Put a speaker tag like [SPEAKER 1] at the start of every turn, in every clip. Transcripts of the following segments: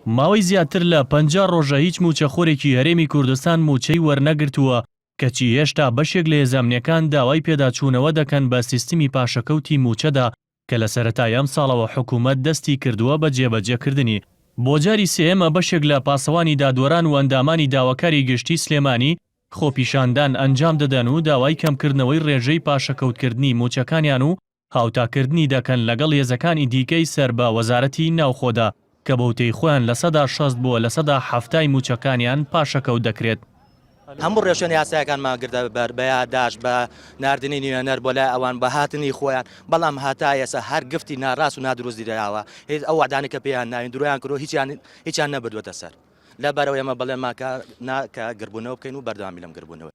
[SPEAKER 1] ماوەی زیاتر لە پەنجا ڕۆژە هیچ مووچەخۆرێکی هەرێمی کوردستان مووچەی وەرنەگرتووە، کەچی هێشتا بەشێک لە هێزامنیەکان داوای پێداچوونەوە دەکەن بە سیستمی پاشەکەوتی مووچەدا کە لە سەرەتای ئەمساڵەوە حکوومەت دەستی کردووە بە جێبەجێکردنی. بۆ جاری سێیەمە بەشێک لە پاسەوانی دادوەران و ئەندامانی داواکاری گشتی سلێمانی خۆپیشاندان ئەنجام دەدەن و داوای کەمکردنەوەی ڕێژەی پاشەکەوتکردنی مووچەکانیان و هاوتاکردنی دەکەن لەگەڵ هێزەکانی دیکەی سەر بە وەزارەتی ناوخۆدا کە بەوتەی خۆیان لە سەدا شەست بۆ لە سەدا حەفتای مووچەکانیان پاشەکەوت دەکرێت. هەموو ڕێوشوێنە
[SPEAKER 2] یاسایەکانمان گرتە بەر، بە یاداشت، بە ناردنی نوێنەر بۆ لای ئەوان، بە هاتنی خۆیان، بەڵام هەتا ئێستا هەر گفتی ناڕاست و نادروست دراوە، هیچ ئەو وەعدانەی کە پێیان ناوین درۆیان کردووە هیچیان هیچیان نەبردووەتە سەر، لەبەرئەوەی ئێمە بەڵێنمان کە نا کە گردبوونەوە بکەین و بەردەوامی لەم گردبوونەوەی.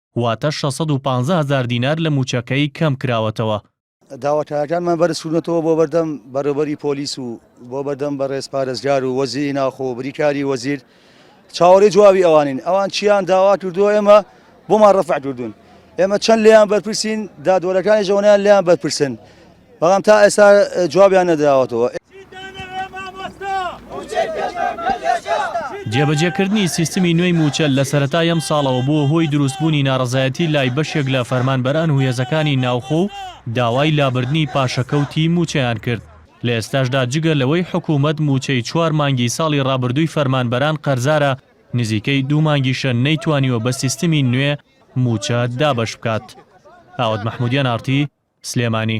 [SPEAKER 1] واتە شەش سەد و پازدە هەزار دینار لە مووچەکەی کەمکراوەتەوە. داواکاریەکانمان
[SPEAKER 3] بەرزکردووەتەوە بۆ بەردەم بەڕێوەبەری پۆلیس و بۆ بەردەم بەڕێز پارێزگار و وەزیری ناوخۆ و بریکاری وەزیر چاوەڕێی جوابی ئەوانین، ئەوان چییان داوا کردووە ئێمە بۆمان ڕەفع کردوون، ئێمە چەند لێیان بەرپرسین، دادوەرەکانیش ئەوەنەیان لێیان بەرپرسن. بەڵام تا ئێستا جوابیان نەدراوەتەوە.
[SPEAKER 1] جێبەجێکردنی سیستمی نوێی مووچە لە سەرەتای ئەمساڵەوە بووە هۆی دروستبوونی ناڕەزایەتی لای بەشێک لە فەرمانبەران و هێزەکانی ناوخۆ و داوای لابردنی پاشەکەوتی مووچەیان کرد، لە ئێستاشدا جگە لەوەی حکوومەت مووچەی چوار مانگی ساڵی ڕابردووی فەرمانبەران قەرزارە، نزیکەی دوو مانگیشە نەیتوانیوە بە سیستمی نوێ مووچە دابەش بکات. ئاوات مەحموودیان ئاڕتی سلێمانی.